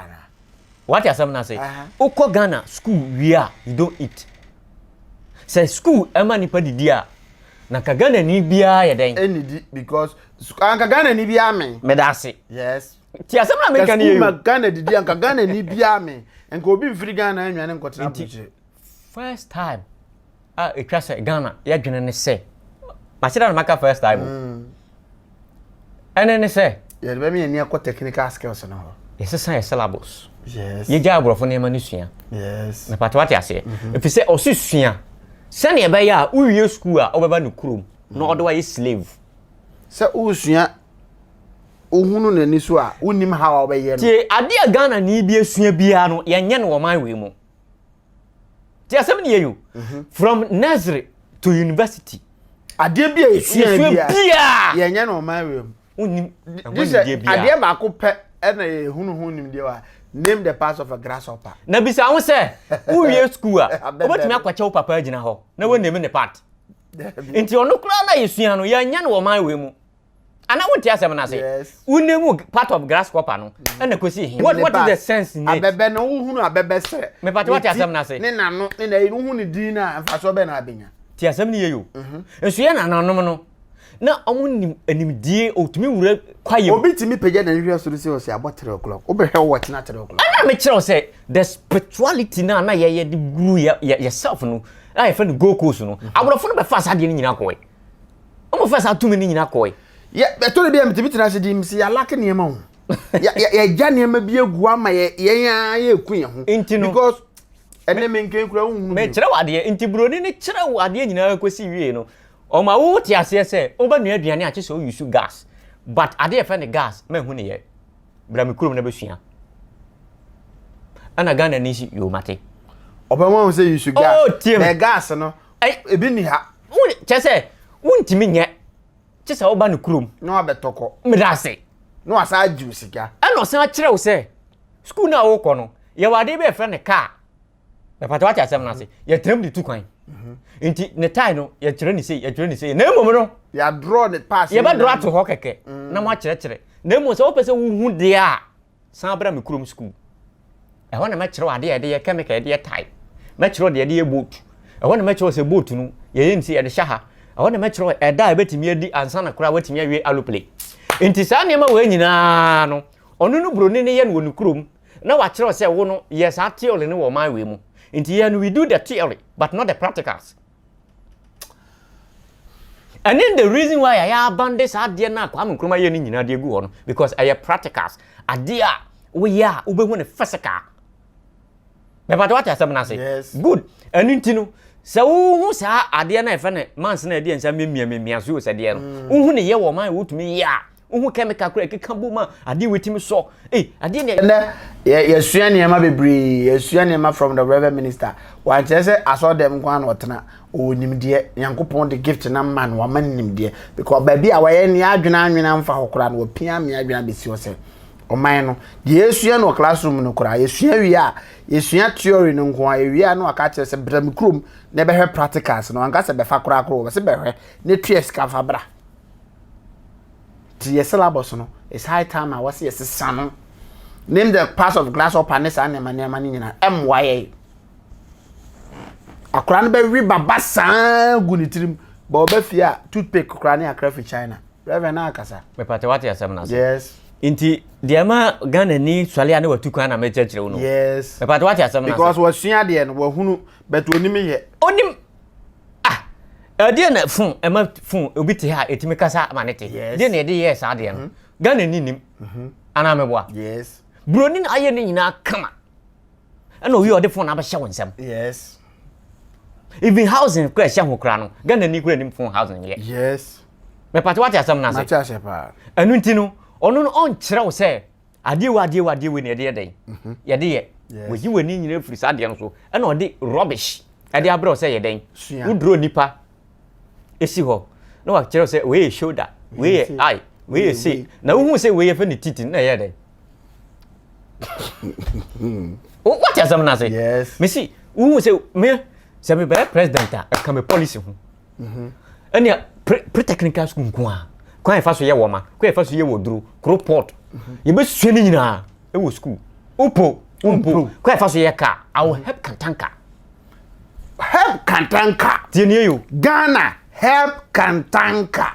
wate asɛm no ase wokɔ ghana school wie a you don't eat sɛ school ɛma nipa didi a na ka ghana ni biara yɛ dɛn ɛnidi because anka ghana ni biara me meda ase yes ti asɛm na meka ne yɛ yo ghana didi anka ghana ni biara me nka obi mfiri ghana anwane nkɔtena abukyire First time a ɛtwa sɛ Ghana yɛdwene ne sɛ mase da na maka first time o mm. ɛne ne sɛ yɛde bɛmi ani akɔ technical skills no hɔ yɛsesa yɛ syllables yɛgya aborɔfo nneɛma no sua mepata wate aseɛ mhm. ɛfiri sɛ ɔse sua sɛneɛ ɛbɛyɛ a wowie sukuu a wobɛba no kurom na ɔde wayɛ slave sɛ wosua ohunu n'ani so a wonim ha a wobɛyɛ no tie adeɛ a ghana ni bi asua biara no yɛnyɛ no wɔ man wei mu ti asɛm ni yɛ yo mhm. from nursery to university adeɛ bi a yɛsua biara yɛnyɛ no ɔman wei mu wonim adeɛ baako pɛ ɛna yɛhunu ho nimdeɛ wa name the parts of a grasshopper na bisa ho sɛ wowie school a wobɛtumi akwakyɛ wo papa agyina hɔ na woname ne part nti ɔno koraa na yɛsua no yɛnyɛ no ɔman wei mu ana wo te asɛm no ase wo ne mu part of grasshopper no ɛna mm. kosi hin what what is the sense in it abɛbɛ no wo hunu abɛbɛ sɛ me part what asɛm no ase ne nano ne na wo hunu din na mfa so bɛ na abenya te asɛm no yeyo mhm. nso yɛ nananom no na ɔmo nim animdie otumi wura kwaye obi tumi pagya na nhwɛ soro sɛ ɔsɛ abɔ 3 o'clock wobɛhwɛ wɔ tena 3 o'clock ɛna mekyerɛw sɛ the spirituality no a na yɛyɛ de guru yɛ self no a yɛfrɛ no gold coast no mhm. aborɔfo no bɛfa saa deɛ no nyina kɔɛ wɔfaa saa tumi no nyina kɔe ɛtɔ da bi a metumi tena ase dim sɛ yɛalake nneɛma ho yɛagya nneɛma bi agu ama yɛn ara yɛku yɛn ho nti no because ɛne me nkan kura wohunu mekyerɛ wo adeɛ nti buroni no kyerɛ wo adeɛ nyinaa kɔsi wie no ɔma wo te aseɛ sɛ wobɛnoa aduane akye sɛ woyusu gas but adeɛ ɛfɛ ne gas mahu ne yɛ bra me kurom na bɛsua ɛna ghana ni si yomate ɔbɛma wo sɛ yusu gas oh, gas no Ɛy ebi nni ha. Wo kyɛ sɛ wontumi nyɛ kye sɛ woba ne kurom. Na wabɛtɔ kɔ. Meda ase. Na wasan agye wo sika. Ɛna ɔsan akyerɛ wo sɛ sukuu no a wokɔ no yɛwɔ adeɛ bi a yɛfrɛ no kaa. Mepatɛ wate asɛm no ase. Mhm. Yɛtram de tu kwan. Mhm. Nti ne tae no yɛkyerɛ ne sei yɛkyerɛ ne sei na mmom no. Yɛadorɔ ne paase. Yɛbɛdorɔ ato hɔ kɛkɛ mm. na moakyerɛkyerɛ. Na mmom sɛ wopɛ sɛ wohu deɛ a San bra me kurom sukuu. Ɛhɔ na mɛkyerɛ adeɛ a yɛde yɛ kɛmika, yɛde yɛ tae. Mɛkyerɛ deɛ yɛde yɛ boat. Ɛhɔ na mɛkyerɛ sɛ boat no, yɛyɛ no sɛ yɛde hyɛ ha. Ɛhɔ na mɛkyerɛ ɛda a ɛbɛtumi adi ansa na koraa watumi awie alopele. Nti saa nneɛma wei nyinaa no, ɔno no buroni no yɛ no wɔ ne kurom na wakyerɛ sɛ wo no, yɛ saa theory no wɔ ɔman wei mu. Nti yɛn no we do the theory but not the practicals. ɛne the reason why a yɛabande saa adeɛ no a kwame nkrumah yɛ no nyinaa de agu hɔ no because ɛyɛ practicals adeɛ a woyɛ a wobɛhu no physical mepatɛ wate asɛm no ase good ɛno nti no sɛ wohu saa adeɛ no a ɛfɛ no mans no ɛdeɛ nsa mmemmia mmemmia so sɛ deɛ no wohu ne yɛ wɔ ma a wotumi yɛ a Wohu kɛmika koro a ɛkeka bom a adeɛ wetumi sɔ. Ei, adeɛ ne. Ɛnɛ, yɛ, yɛsua nneɛma bebree. Yɛsua nneɛma from the Reverend Minister. Wankyerɛ sɛ asɔre dɛm nko ara na ɔtena. Ɔwɔ nimdeɛ. Nyankopɔn de gift no ama no, wama no nimdeɛ. Because baabi a wayɛ ne adwene anwene amfa hɔ koraa no, wapia me adwene abɛsi hɔ sɛ, Ɔman no, deɛ yɛsua no wɔ classroom mu no koraa, yɛsua wie a, yɛsua theory no nko ara, yɛwie a na waka akyerɛ sɛ, Bra me kurom na bɛhwɛ practicals no. Wanka sɛ bɛfa koraa koro, ɔse bɛhwɛ, na tua sika fa bra. Nti yɛ syllabus no, it's high time a wɔse yɛsesa no. Name the parts of grasshopper ne saa nneɛma nneɛma no nyinaa, ɛmmoa yɛn. Akora no bɛwe baba saa gu ne tirim, bɔ ɔba fie a toothpick koraa ne akra fi China. Reverend na akasa. Mepatɛ wate asɛm no ase. Yes. Nti deɛ ma Ghana ni sɔle a ne watu kwan na mekyerɛkyerɛ wo no. Yes. Mepatɛ wate asɛm no ase. Because wasua deɛ no, wahunu, but onim yɛ. Onim. Ah! Ɛdeɛ na fon, ɛma fon, obi te ha a, ɛtumi kasa ma ne te. Yes. Deɛ na ɛde yɛɛ saa deɛ no. Mm-hmm. Ghana ni nim. Mm-hmm. Anaa meboa. Yes. Buroni na ayɛ ne nyinaa kama. Ɛna oyi ɔde fon abɛhyɛ wo nsɛm. Yes. Even housing kura ɛhyɛ ho kura no, Ghana ni kura nim fon housing yɛ. Yes. Mepate wate asɛm no ase. Mate ase paa. Ɛno nti no, ɔno no ɔnkyerɛ wo sɛ adeɛ wei adeɛ wei adeɛ wei na yɛde yɛ dɛn mhm. yɛde yɛ wɔyi w'ani nyina firi saa adeɛ no so ɛna ɔde rubbish ɛde abrɛ sɛ yɛ dɛn woduro nipa ɛsi hɔ na wakyerɛ sɛ wei yɛ shoulder wei yɛ eye wei yɛ se na wohu sɛ wei yɛfɛ ne titi na ɛyɛ dɛn wote asɛm no ase mesi wohu sɛ me sɛ mebɛyɛ president a ɛka me policy ho ɛnea pre pre technical school nko a kwan a yɛfa so yɛ wɔma kwan a yɛfa so yɛ wɔ duro koro port yɛbɛsua no nyinaa ɛwɔ school wopo wompo kwan a yɛfa so yɛ kaa i will help kantanka help kantanka tie nie yo ghana help kantanka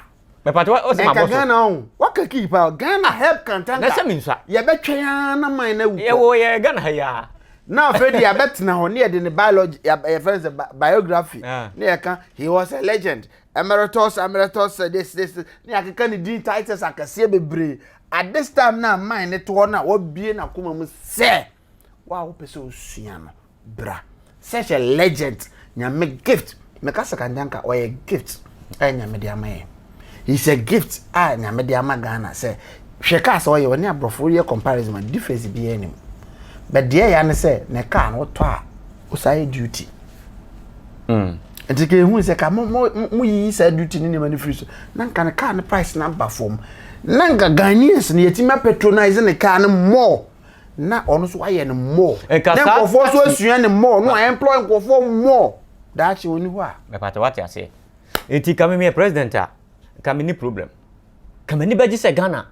mɛpatɛ wa ɔsɛ ma bɔ so. ɛka ghana ɔn waka kii pa ghana help kantanka. na sɛ mi nsa. yɛbɛtwɛn ara na man na ewu kɔ. yɛwɔ yɛ ghana ha yia. na afei de yɛbɛtena hɔ ne yɛde ne biology yɛfrɛ no sɛ biography ah. ne yɛka he was a legend emeritus emeritus this this ne yɛakeka ne din titles akɛseɛ bebree at this time na man ne toɔ na wabie n'akoma mu sɛ. Wo a wopɛ sɛ osua no, bra. Such a legend, nyame gift. Meka sɛ kanka nka ɔyɛ gift a nyame de ama yɛ. He's a gift a nyame de ama Ghana sɛ hwɛ kaa sɛ ɔyɛ ɔne aborɔfo yɛ comparison a difference biara nim. But deɛ ya ne sɛ ne kaa no wotɔ a wosan yɛ duty. Mm. nti ka ehu sɛ ka mo mo mo yiyi saa duty ne nneɛma no firi so na nka ne kaa ne price na aba fam na nka ghanaians no yɛtumi apatronise ne kaa no more na ɔno nso ayɛ no more na nkurɔfoɔ nso asua no more na ɔemploy nkurɔfoɔ more daakye ɔni hɔ a mepatɛ wate aseɛ nti ka memeyɛ president a ka menni problem ka m'ani bɛgye sɛ Ghana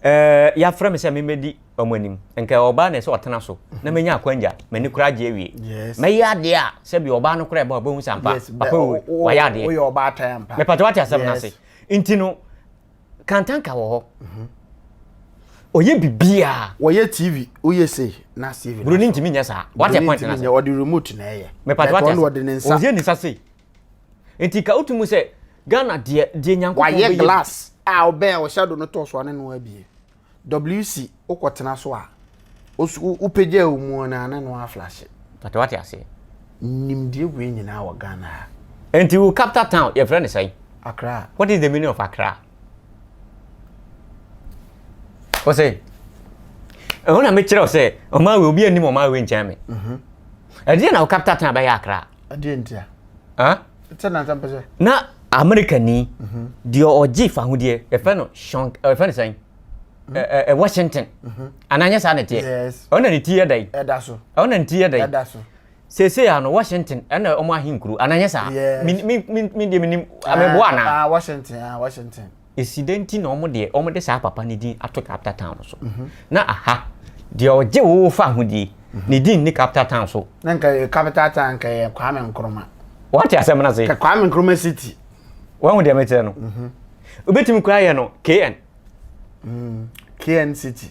eh, yɛafrɛ me sɛ memmɛdi ɔmo anim nka ɔbaa na ɛsɛ ɔtena so na menya akwangya m'ani koraa gye awie mɛyɛ adeɛ a sɛbi ɔbaa no koraa ɛbɛ ɔbɛhu sampa papa wayɛ adeɛ mepatɛ wate asɛm no ase nti no Kantanka wɔ hɔ. Mhm. Ɔyɛ biribiara. Wɔyɛ TV, woyɛ sei na TV. Buroni ntumi nyɛ saa. Wate point na sɛ. Ɔde remote na ɛyɛ. Mepatɔ wate ase. Ɔde ne nsa. Ɔyɛ ne nsa sei. Nti ka wotu mu sɛ Ghana deɛ deɛ nyankopɔn bɛyɛ. Wayɛ glass a ɔbɛn a ɔhyɛ do no tɔ so ane no abie. WC wokɔ tena so a osu wo pagya wo mu na ne no aflashe. Pata wate aseɛ. Nimdeɛ wei nyinaa wɔ Ghana ha. Nti wo capital town yɛ frɛ no sɛn? Accra. What is the meaning of Accra? Wɔ sɛ ɛho na mekyerɛ wo sɛ ɔman wei obi anim ɔman wei nkyɛn me. Mhm. Ɛdeɛ na wo capital town bɛyɛ Accra? ɛdeɛ ntia sɛ nansa mpɛ sɛ na amerikani mhm. deɛ ɔgye fahodeɛ yɛfrɛ no shon yɛfrɛ no sɛn mhm. washington mhm. anaa nyɛ saa na ɛteɛ ɛno na ne ti yɛ dɛn ɛno na ne ti yɛ dɛn seesei ano washington ɛna ɔmo ahenkuro anaa nyɛ saa me deɛ menim ameboa anaa ah, washington ah, washington esi dɛn nti na wɔn deɛ wɔn de saa papa no din ato capital town no so mhm. na aha deɛ ɔgye wo fa ahodie mhm. ne din ne capital town so. na nka yɛ capital town nka yɛ kwame nkrumah. wɔn te asɛm na se. ka kwame nkrumah city. wɔn ho deɛ mɛkyerɛ no obetumi mhm. kura yɛ no kn. Mm, kn city.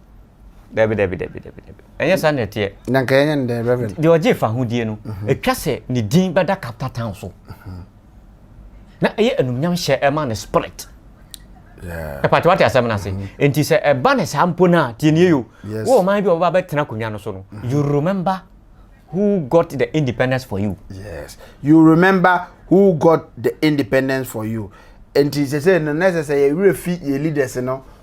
dabi dabi dabi dabi dabi ɛnyɛ saa na ɛteɛ na nka ɛnyɛ no dɛ reverend deɛ ɔgye fa ahodie no mhm. ɛtwa sɛ ne din bɛda capital town so mhm. na ɛyɛ anumnyam hyɛ ɛma ne spirit ɛpate wate asɛm no ase mhm. nti sɛ ɛba ne saa mpo no a tienie yo wɔ ɔman bi a wɔba bɛtena akonnwa no so no you remember who got the independence for you yes you remember who got the independence for you nti sɛ sɛ no na ɛsɛ sɛ yɛwerɛ fi yɛ leaders no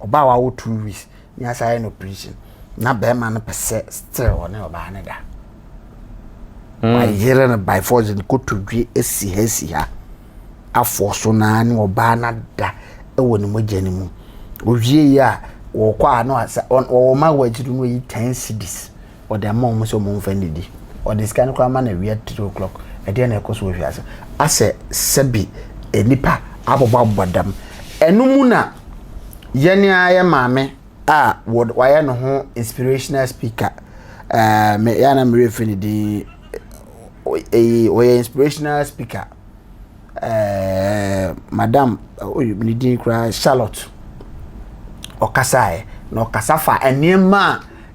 Ɔbaa a wawo two weeks ne asan ayɛ no operation na bɛrima no pɛ sɛ still ɔne ɔbaa no da. Mm. Wayere no by force no kotodwe asi ha asi ha afɔ so naa ne ɔbaa no ada wɔ ne mogya no mu. Owie yi a wɔkɔ a na wɔwɔ ma wɔ akyiri no yi ten cities Ɔde ama wɔn sɛ wɔmfa nnidi. Ɔde sika no koraa ma no awia three o'clock. Ɛdeɛn na ɛkɔ so wɔ afiase? Asɛ sɛbi nnipa abobɔ abobɔ dam. Ɛno mu na yɛn ara yɛ maame a wayɛ ne ho inspirational speaker. Ɛɛ me yɛ na merefiri ne din. Ɔyɛ inspirational speaker. ɛɛ madam oyi ne din koraa charlotte ɔkasaeɛ na ɔkasa fa nneɛma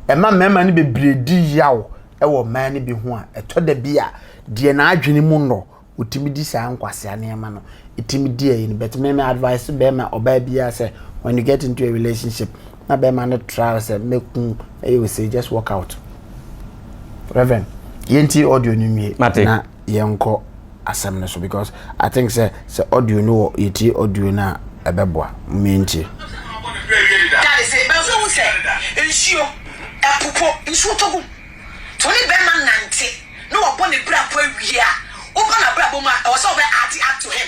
a ɛma mmarima no bebree di yaw wɔ mmaa no bi ho a ɛtɔ da bi a deɛ n'adwene mu nnɔ ɔtumi di saa nkwasea nneɛma no ɛtumi di ayi no but me me advice bɛrima ɔbaa biara sɛ when you get into a relationship na bɛrima no traa hɔ sɛ mɛku ɛyɛ ose just walk out reverend yɛntie audio no nwie Mate. na yɛnkɔ asɛm no so because i think sɛ sɛ audio no wɔ yɛtie audio no a ɛbɛboa mentie Dade se bɛnfo ehu sɛ nsuo, ɛpo po, nsuo tɔ gu mu. Nti wo ne bɛrima nante na wabɔ ne brabɔ awie a, woba n'abrabɔ mu a, ɛwɔ sɛ wobɛ add add to him.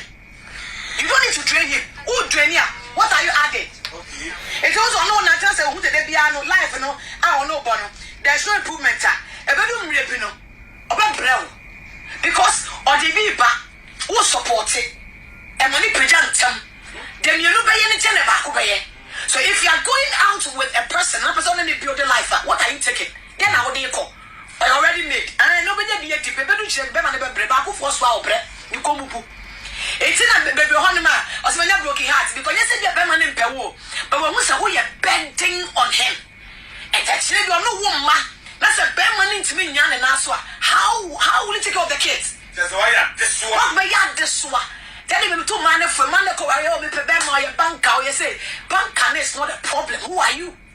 You don't need to drain him. Wo draini a, what are you adding? Nti wo sɛ ɔne wo nante asɛ ohu sɛ da biara no life no a ɔne wo bɔ no there is no improvement a, ɛbɛdu mmerɛ bi no ɔbɛbrɛ wo because ɔde bi reba wo sɔpɔɔte ɛma no pagya ntɛm. Deɛ mmienu bɛyɛ no kyɛn deɛ baako bɛyɛ. So if you are going out with a person na wopɛ sɛ wo ne no build life a, what are you taking? Deɛ na wode rekɔ? Ɔyɛ already made aah na ɔbɛnya bi adi, bɛbɛdu kyerɛ bi bɛma no bɛbrɛ, baakofoɔ soa ɔbrɛ, ne kɔn mu bu. Nti na bɛduru hɔ nom a ɔsɛ manya broken heart because nyɛ sɛ bia bɛrima no mpɛ wo o, but wahu sɛ woyɛ burden on him, ɛtɛ kyerɛ bi ɔno wo mma, na sɛ bɛrima no ntumi nnya ne nan so a how how will he take care of the kids? Kyerɛ sɛ wayɛ adesoa. Wɔ bɛyɛ adesoa, dɛn na bɛto mmaa no fo, mmaa no kɔ wareɛ, oh mepɛ bɛrima, ɔyɛ banker, ɔyɛ sei, banker no is not the problem, who are you?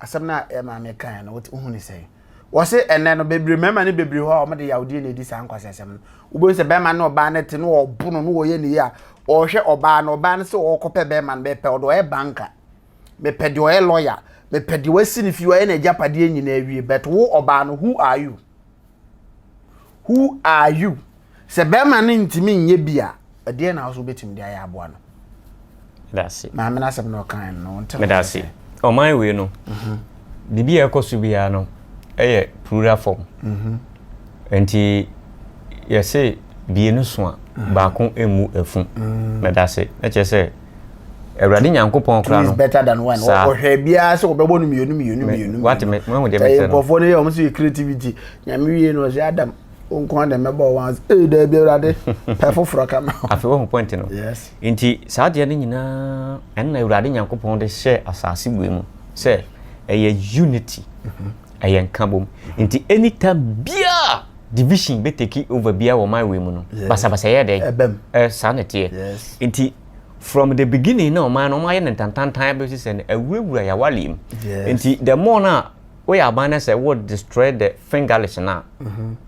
asɛm no a yɛ maame kae no wohu ne sɛn wɔse ɛnɛ no bebree mmarima ne bebree hɔ a wɔde yawdeɛ na ɛdi saa nkwasasɛm no wobɛhu sɛ bɛrima ne ɔbaa no te ne wɔbono ne wɔyɛ ne yi a ɔhwɛ ɔbaa no ɔbaa no sɛ ɔkɔpɛ bɛrima no mepɛ ɔde ɔyɛ banka mepɛ deɛ ɔyɛ lɔya mepɛ deɛ wasi ne fie ɔyɛ n'agyapadeɛ nyinaa awie but wo ɔbaa no who are you who are you Sɛ bɛrima no ntumi nyɛ bi a, ɛdeɛ na wo so wobɛtumi de ayɛ aboa no? Medase. Maame no asɛm na ɔkae no no, wonte ho Medase. Ɔman wei no, mhm. biribi a ɛkɔ so biara no ɛyɛ plural form. Mhm. Nti yɛse bienu so a, mhm. baako mmu afu. Mhm. Medase. Na kyerɛ sɛ awurade nyankopɔn kora no better than one ɔhwɛ biara sɛ wɔbɛbɔ no mmienu mmienu mmienu wate me mahu deɛ mesɛ no nkurɔfoɔ no yɛ wɔn so yɛ creativity nyame wie no ɔsɛ adam wo nko ara na mɛbɔ wɔn adze ee daabi awurade pɛ foforɔ ka ma afei wahu pɔnte no yes nti saa adeɛ no nyinaa ɛnna awurade nyankopɔn de hyɛ asase bue mu sɛ ɛyɛ unity ɛyɛ nka bom nti anytime biaa division bɛ take over biaa wɔ my way mu no basabasa yɛ dɛ ɛbɛm eh, saa na ɛteɛ yes nti from the beginning na ɔman no ɔmayɛ no ntantantan bɛsi sɛ no awurawura yɛawale mu yes nti the more no a Woyɛ aban na sɛ wo destroy the fingerless no a,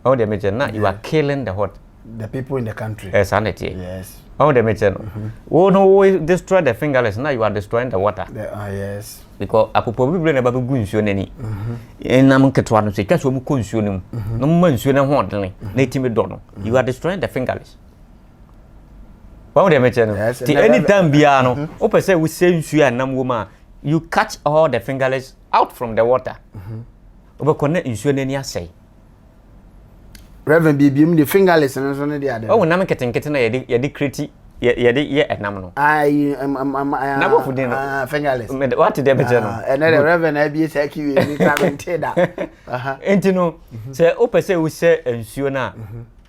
ɔho deɛ mekyɛ na you are killing the what? The people in the country. Eh, saa na ɛteɛ. Yes. Ɔho deɛ mekyɛ no. Wo no wo destroy the fingerless na you are destroying the water. The, ah, yes. Because akopɔ bibire na ɛba bɛgu nsuo no ani. Nam nketewa no sɛ ɛtwa so mu kɔ nsuo no mu. Na moma nsuo no ho ɔdene na ɛtumi dɔ no. You are destroying the fingerless. Ɔho deɛ mekyɛ no. Yes. Ti anytime biara no, wopɛ sɛ wosɛ nsuo a nam wɔ mu a, you catch all the fingerless out from the water wobɛkɔ na nsuo no ani asɛe Reverend biebiam de fingerless no nso ne de ade. Ɔwɔ nam nketenkete na yɛde yɛde kreti yɛde yɛ ɛnam no. Ayi ɛm ɛm ɛm ɛm. Na bɔfo din no. Ah, fingerless. Mɛ wate deɛ bɛkyɛ no. Ah, ɛnɛ de Reverend abie saa kiwi ni kura mi nte da. Nti no sɛ wopɛ sɛ wosɛ nsuo no a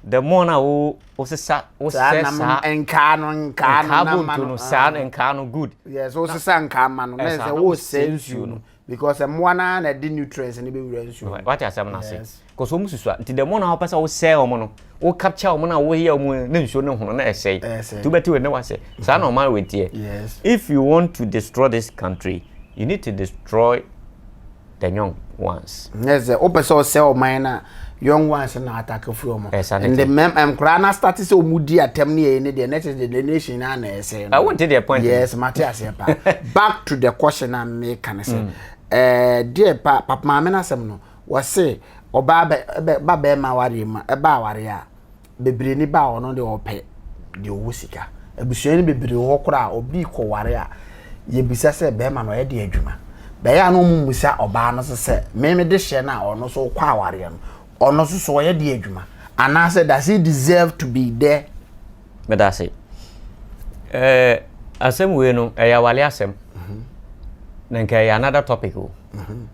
the more na wo wosesa wosɛ saa nkaa no nkaa no na ma no saa no nkaa no good yes wosesa nkaa ma no na sɛ wosɛ nsuo no because mmoa no ara na ɛde nutrients no bɛwura nsuo no wate asɛm no ase because wɔn susua nti the more na wopɛ sɛ wosɛ wɔn no wo capture wɔn na woyɛ wɔn ne nsuo no hono na ɛsɛe nti wobɛte wɔn ne wasɛ saa na ɔman wɔ teɛ if you want to destroy this country you need to destroy the young ones. Yes, sɛ wopɛ sɛ ɔsɛ ɔman no a young ones na atake firi ɔmo. Ɛsane And the te. mɛm nkoraa na start sɛ ɔmo di atɛm ne yɛyi ne deɛ next the the nation na na ɛsɛ no. Ɛwo nte deɛ point no. Yes, mate aseɛ paa. Back to the question a meka ne sɛ eh, deɛ pa papa maame no asɛm no wɔse ɔbaa bɛ bɛ ba bɛrima awareɛ mu a ɛba awareɛ a bebree ni ba a ɔno deɛ ɔpɛ deɛ ɔwɔ sika abusua no bebree wɔ hɔ koraa obi kɔware a yɛbisa sɛ bɛrima no ɔyɛ deɛ adwuma bɛyɛ a na ɔmo mmusa ɔbaa no so sɛ meme de hyɛ no a ɔno nso kɔ awareɛ no ɔno nso so ɔyɛ deɛ adwuma anaasɛ does he deserve to be there. meda ase ɛɛ asɛm wei no ɛyɛ awale asɛm mhm. na nka ɛyɛ another topic o mhm.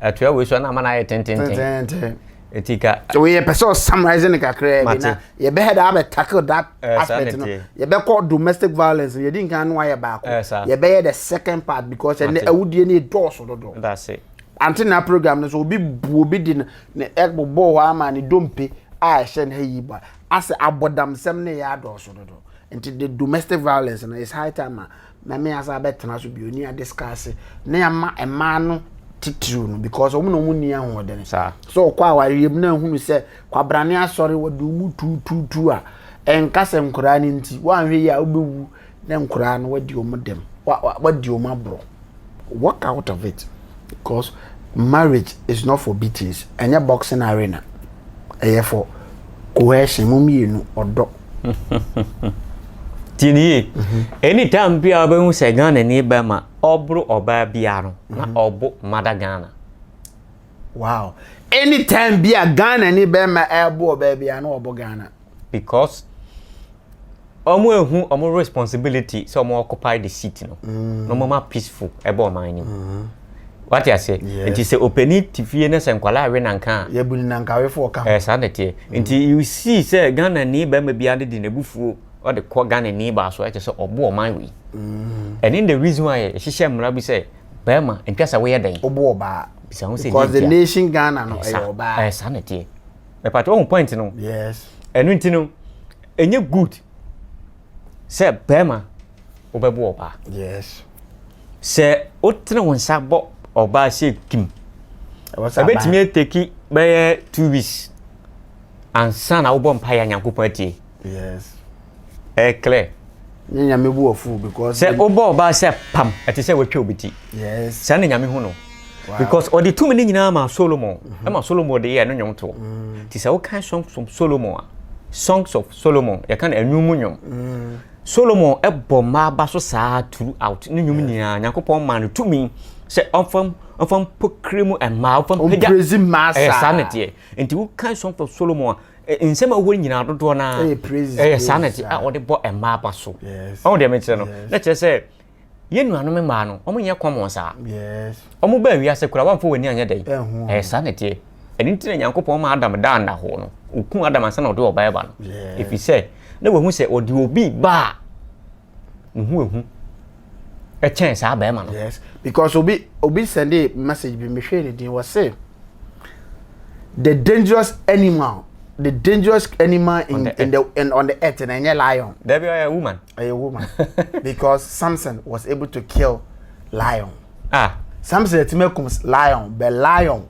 atua wei so na ama no ayɛ tententen Eti ka. So yɛ pɛ sɛ ɔ summarize no kakraa bi na yɛ bɛ head a bɛ tackle that eh, aspect no. Yɛ bɛ kɔ domestic violence no yɛ di nkan no ayɛ baako. Eh, yɛ bɛ yɛ the second part because ɛnɛ awudie no edɔɔso dodo. That's it. Ante na program no so obi bu obi di no ne ɛbobɔ hɔ ama ne dompe a ɛhyɛ no yi ba. Asɛ abɔdamsɛm no yɛ adɔɔso dodo. Nti the domestic violence no is high time a na me asa abɛtena so bio ne adiscase ne ama mmaa no titiriw no because wɔn na wɔn nni ahoɔden so ɔkɔ awareɛ mu na ahunu sɛ kwabrane asɔre wɔde wɔn tuutuutu a ɛnka sɛ nkoraa no nti wɔanhwɛ yi a wobɛwu na nkoraa no wadi wɔn dɛm wadi wɔn aborɔ walk out of it because marriage is not for beatings ɛnyɛ boxing arena ɛyɛ for Coercion, mo mmienu, ɔdɔ. Tie ne yie. Anytime bi a wobɛhu sɛ Ghanani bɛma ɔboro ɔbaa biara no, na mhm. ɔbo mada Ghana. Wow. Anytime bi a Ghanani bɛma ɛbo ɔbaa biara na ɔbo Ghana. Because Ɔmo ehu ɔmo responsibility sɛ ɔmo occupy the seat no na ɔmo ma peaceful ɛba ɔman no mu. Wate aseɛ? Nti sɛ opani te fie na sɛ nkwadaa rewe nanka a. Yɛbu no nankawefoɔ ka ho. Ɛɛ saa na ɛteɛ. Nti you see sɛ Ghanani barima biara no de n'abufuo ɔde kɔ Ghanani baa so ɛkyerɛ sɛ ɔbo ɔman wei. Ɛne the reason why yɛhyehyɛ mmara bi sɛ barima ntwa sɛ woyɛ dɛn. Wobo ɔbaa. Bisa ho sɛ nti a. Because the nation Ghana no ɛyɛ ɔbaa. Ɛɛ saa na ɛteɛ. Mepatwa wohu point no? Yes. Ɛno nti no ɛnyɛ good sɛ bɛɛma wo bɛbo ɔbaa yes sɛ wo tene wo nsa bɔ ɔbaa sɛ kim ɛbɛtumi ateki bɛyɛ two weeks ansa na wobɔ mpa yɛ nyankopɔn atie yes ɛklɛ Ne nyame bu ɔfo because. Sɛ wobɔ ɔbaa sɛ pam ɛte sɛ watwa obi ti. Yes. Saa na nyame hu no. Because ɔde tumi ne nyinaa ma Solomon. Mm-hmm. Ɛma Solomon de yɛ ɛno nnwom toɔ. Mm. Ti sɛ wokan songs of Solomon a songs of Solomon yɛka no ɛnwom mu nnwom. Mm. Solomon ɛbɔ mmaa ba so saa throughout ne nnwom nyinaa Nyankopɔn maa no tumi sɛ ɔmfam ɔmfam pokiri mu mmaa ɔmfam pagya. Ɔmprezi mmaa saa. Ɛyɛ saa na ɛteɛ. nti wokan songs of solomon a eh, nsɛm a wɔwɔ nyinaa dodoɔ no ara ɛyɛ saa na ti a wɔde bɔ mmaa ba so ɔho deɛ mekyerɛ no na kyerɛ sɛ yɛn nuanom mmaa no wɔn nyɛ kɔmɔn saa wɔn baa wiase koraa wɔn afɔ wɔn ani anyɛ dɛ ɛyɛ saa na teɛ ɛne nti na nyankopɔn ma adam daa nna hɔ no okun adam ansa na ɔde ɔbaa ba no efi sɛ na wɔn ho sɛ ɔde obi baa Nhu ehu. Ɛkyɛn saa bɛrima no. Yes, because obi obi sɛnde message bi mehwɛ ne din wɔse the dangerous animal the dangerous animal in, on the in the in, on the earth na ɛnyɛ lion. There be a woman. A woman because Samson was able to kill lion. Ah. Samson ɛtumi akum lion but lion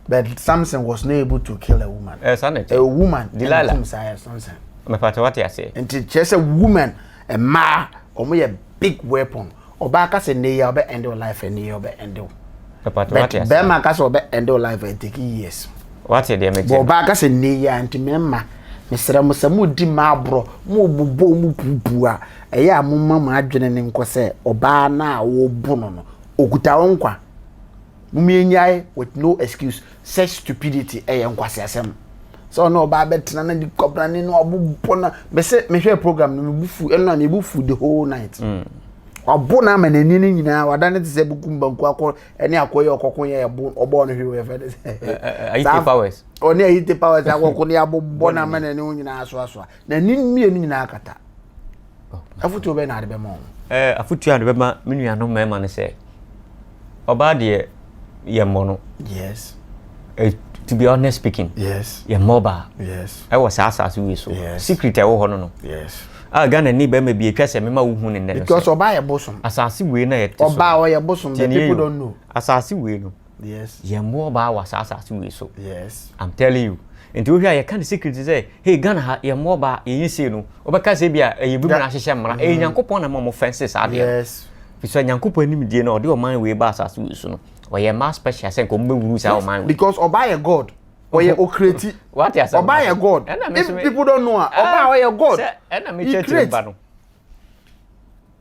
But Samson was not able to kill a woman. Eh, saa na ɛte. A woman. Delilah. Ɛna tum saa yɛ Samson. Mepatɛ wate aseɛ. Nti kyerɛ sɛ woman mmaa wɔn yɛ big weapon. Ɔbaa ka sɛ ne yɛ ɔbɛ end your life ne yɛ ɔbɛ end your. Mepatɛ wate aseɛ. But bɛrima ka sɛ ɔbɛ end your life and take years. Wate deɛ mete. Bɔ ɔbaa ka sɛ ne yɛ a nti mɛma mesrɛ mo sɛ mo di mmaa aborɔ mo bobɔ mo puupuu a ɛyɛ a mo ma mo adwene ne nkɔ sɛ ɔbaa no a wɔbu no no okuta wo nkwa. Mom yɛnyae with no excuse such stupidity ɛyɛ nkwaseasɛm sɛ ɔne ɔbaa bɛtena na de kwabrane no abobɔ na mese mehwɛ program no mebu fu ɛno na mebu fu the whole night mm. wabo na ama n'ani no nyinaa wada ne te sɛ bukum banku akɔ ɛne akɔ yɛ ɔkɔko yɛ ɛbo ɔbɔ no hwɛ wɔyɛ fɛ ne sɛ ayite powers ɔne ayite powers akɔko ne abobɔ na ama n'ani ho nyinaa asoasoa Na ne mmienu nyinaa kata. Afotuo bɛyɛ na ade bɛma wɔn? Ɛɛ afotuo a de bɛma me nuanom mmarima no sɛ ɔbaa deɛ yɛ mmɔ no. Yes. Eh, to be honest speaking. Yes. Yɛ mmɔ ɔbaa. Yes. Ɛwɔ saa asaase wei so. Yes. Secret a ɛwɔ hɔ no no. Yes. A Ghana ni bɛrima bi atwa sɛ mema wohu ne nnɛ no sɛ. Because ɔbaa yɛ bosom. Asaase wei na yɛte so. Ɔbaa ɔyɛ bosom. The people don't know. Asaase wei no. Yes. Yɛn mmoa ɔbaa wɔ saa asase wei so. Yes. I'm telling you. Nti wohwɛ a yɛka ne secret sɛ hey Ghana ha yɛn mmoa ɔbaa yɛnyɛ sei no wɔbɛka sɛ bi a ɛyɛ bi mu ahyehyɛ mmara ɛyɛ mm-hmm. Nyankopɔn na ma wɔn fɛnse saa deɛ. Yes. Fisɛ Nyankopɔn anim die na ɔde ɔman wei ba asase wei so no ɔyɛ mmaa special sɛ nka wɔn bɛwuru saa ɔman wei. Because ɔbaa yɛ God ɔyɛ ɔkreti ɔbaa yɛ God if people don't know a ɔbaa ɔyɛ God he create.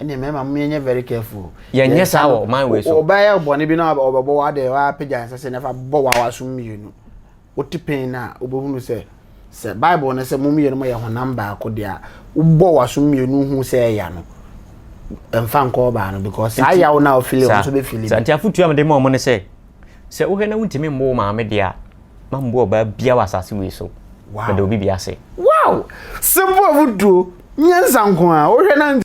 ɛne mmarima mo yɛnyɛ very careful o. yɛnyɛ saa wɔ ɔman wei so. ɔbɛyɛ bɔne bi na ɔbɛbɔ wa de wapagya nsa sɛ nafa bɔ wa waso mmienu wote pɛn no a wobɛhunu sɛ sɛ bible no sɛ mo mmienu yɛ honam baako deɛ a wobɔ waso mmienu hu sɛ ɛya no ɛmfa nkɔ ɔbaa no because saa yaw no a wofili wo nso bɛfili bi. Saa nti afotuo a mede ma ɔmo ne sɛ sɛ wohwɛ na wontumi mmo wo maame deɛ a ma mmo ɔbaa bia wɔ asase wei so mede obi bi ase. Wow! Simple afotuo, nyansa nko a, wohwɛ na